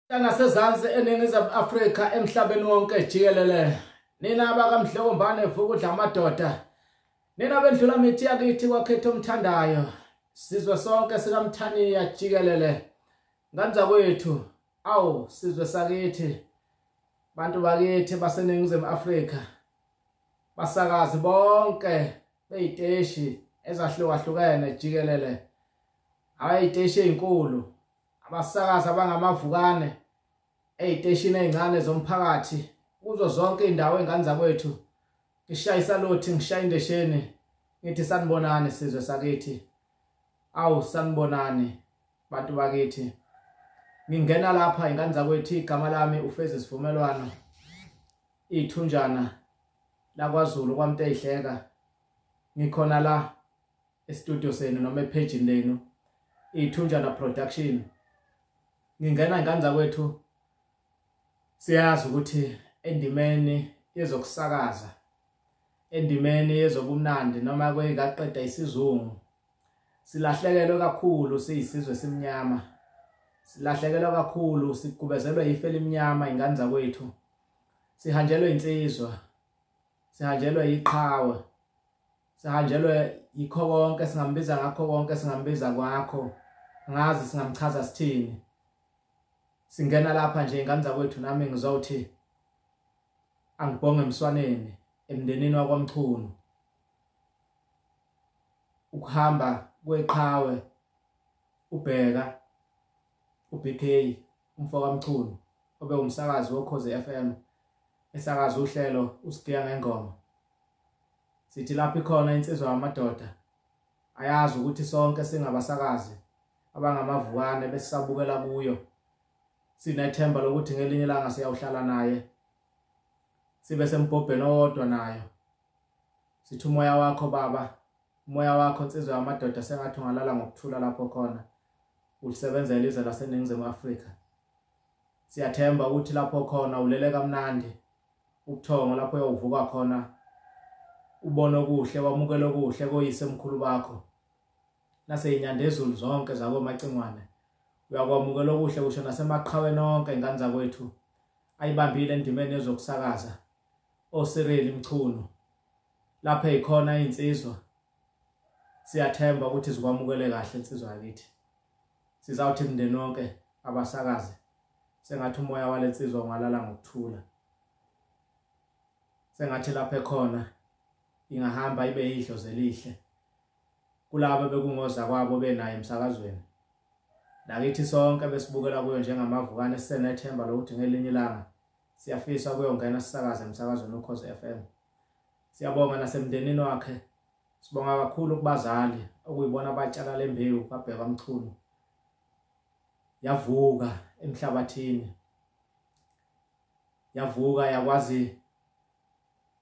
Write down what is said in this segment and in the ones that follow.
nasezansi eningizimu afrika emhlabeni wonke jikelele nina abakamhlokombane vuka udla amadoda nina bendlula mithi yakithi kwakhetha omthandayo sizwe sonke sikamthaniya jikelele nganza kwethu awu sizwe sakithi bantu bakithi baseningizimu afrika basakazi bonke beyiteshi ezahlukahlukene jikelele abayiteshi ezinkulu abasakazi abangamavukane ey'teshini ey'ncane zomphakathi kuzo zonke iy'ndawo ey'ngane zakwethu ngishaye isaluthi ngishaye indesheni ngithi sanibonani sizwe sakithi awu sanibonani bantu bakithi ngingena lapha ingane zakwethu igama lami ufezi sivumelwano iy'thunjana lakwazulu kwamnteyihleka ngikhona la estudio senu noma ephejini lenu ithunjana production ngingena ngandla kwethu siyazi ukuthi endimeni yezokusakaza endimeni yezobumnandi noma kweyikaqeda isizungu silahlekelwe kakhulu siyisizwe simnyama silahlekelwe kakhulu sigubezelwe ife elimnyama ingane zakwethu sihanjelwe insizwa sihanjelwe iqhawe sihanjelwe yikho konke singambiza ngakho konke singambiza kwakho ngazi singamchaza sithini singena lapha nje ingane zakwethu nami ngizowuthi angibhonge emswaneni emndenini wakwamchunu ukuhamba kweqhawe ubheka uBK umfokaMchunu obe umsakazi woKhozi FM esakaza uhlelo usigiya ngengoma sithi lapho ikhona insizwa yamadoda ayazi ukuthi sonke singabasakazi abangamavukane besisabukela kuyo sinethemba lokuthi ngelinye ilanga siyawuhlala naye sibe sembhobheni owodwa nayo sithi umoya wakho baba umoya wakho nsizwa yamadoda sengathi ungalala ngokuthula lapho khona ulisebenzela izwe laseningizimu afrika siyathemba ukuthi lapho khona ulele kamnandi ubuthongo lapho uyawuvuka khona ubone okuhle wamukele okuhle koyise mkhulu bakho naseyinyanda ezulu zonke zakomacingwane uyakwamukela okuhle kusho nasemaqhaweni onke ingane zakwethu ayibambile endimeni yezokusakaza oSireli Mchunu lapha ekhona insizwa siyathemba ukuthi zikwamukele kahle insizwa yakithi sizawuthi mndeni wonke abasakaze sengathi umoya walensizwa ungalala ngokuthula sengathi lapha ekhona ingahamba ibe yidlo zelihle kulabo bekungoza kwabo benayo emsakazweni nakithi sonke besibukela kuyo njengamavukane sisenethemba lokuthi ngelinye ilanga siyafisa ukuyongena sisakaze emsakazweni ukhoze FM siyabonga nasemndenini wakhe sibonga kakhulu kubazali okuyibona abatshala lembewu babheka umchunu yavuka emhlabathini yavuka yakwazi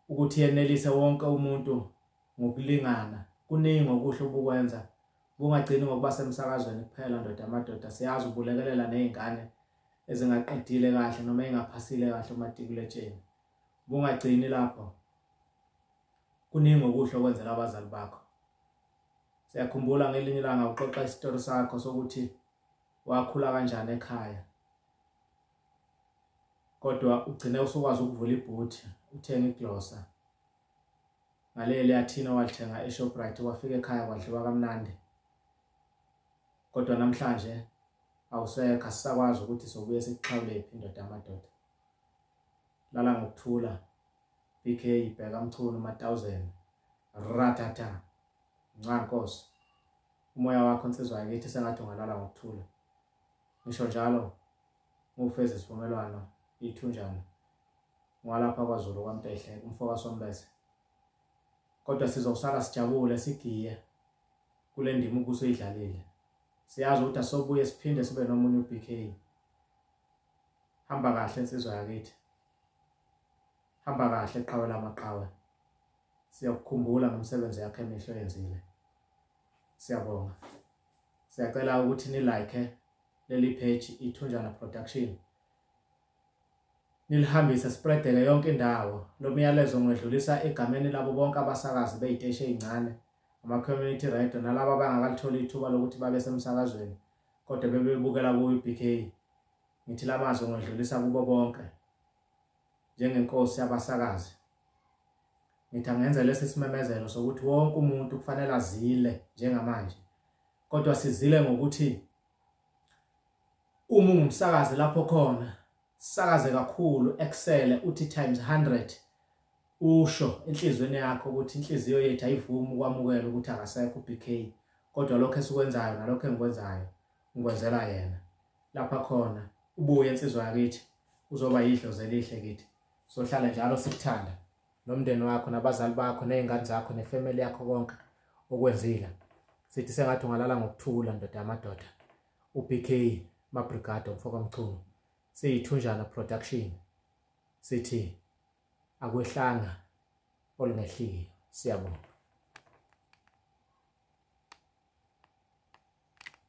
ukuthi yenelise wonke umuntu ngokulingana kuningi okuhle obukwenza kungagcini ngokuba semsakazweni kuphela ndoda amadoda siyazi ubulekelela nezingane ezingaqedile kahle noma engaphasile kahle umatikuletsheni bungagcini lapho kuningi okuhle okwenzela abazali bakho siyakhumbula ngelinye ilanga uxoxa isitori sakho sokuthi wakhula kanjani ekhaya kodwa ugcine usukwazi ukuvula ibhuthi uthenge iglosa ngaleli athina walithenga eShoprite wafika ekhaya kwadliwa kamnandi kodwa namhlanje awusekho asisakwazi ukuthi sobuye sikuxhawulephi indoda yamadoda lala ngokuthula bk ibheka mchunu matawuzeni ratata nca nkosi umoya wakho nsizwa yakithi sengathi ungalala ngokuthula ngisho njalo ngufeza isivumelwano ithunjana ngwalapha kwazulu kwamtehle umfoka sombese kodwa sizokusala sijabule sigiye kule ndima ubuso idlalile siyazi ukuthi asobuye siphinde sibe nomunye uBK hamba kahle insizwa yakithi hamba kahle qhawe lamaqhawe siyakukhumbula ngomsebenzi yakhe emihlo yenzile siyabonga siyacela ukuthi ni like leli page ithunjana production nilihambise spreadeke yonke indawo lo myalezo ngwedlulisa egameni labo bonke abasakazi beyiteshi ezincane ama-community radio nalaba bangakalithola ithuba lokuthi babe semsakazweni kodwa bebebukela kuyi-bk ngithi la mazwi ngodlulisa kubo bonke njengenkosi yabasakazi ngithi angenza lesi simemezelo sokuthi wonke umuntu kufanele azile njengamanje kodwa sizile ngokuthi uma ungumsakazi lapho khona sakaze kakhulu excel uthi times 100 Usho enhlizweni yakho ukuthi inhliziyo yethu ayivumi ukwamukela ukuthi akasekho uBK kodwa lokho esikwenzayo nalokho engikwenzayo ngikwenzela yena lapha khona ubuye insizwa yakithi uzoba yidlozi elihle kithi sohlala njalo sikuthanda nomndeni wakho nabazali bakho nezingane zakho nefamily yakho konke okwenzile sithi sengathi ungalala ngokuthula ndoda yamadoda uBK Mabrigado mfoka Mchunu siyithunjana production sithi akwehlanga olungehliyo siyabonga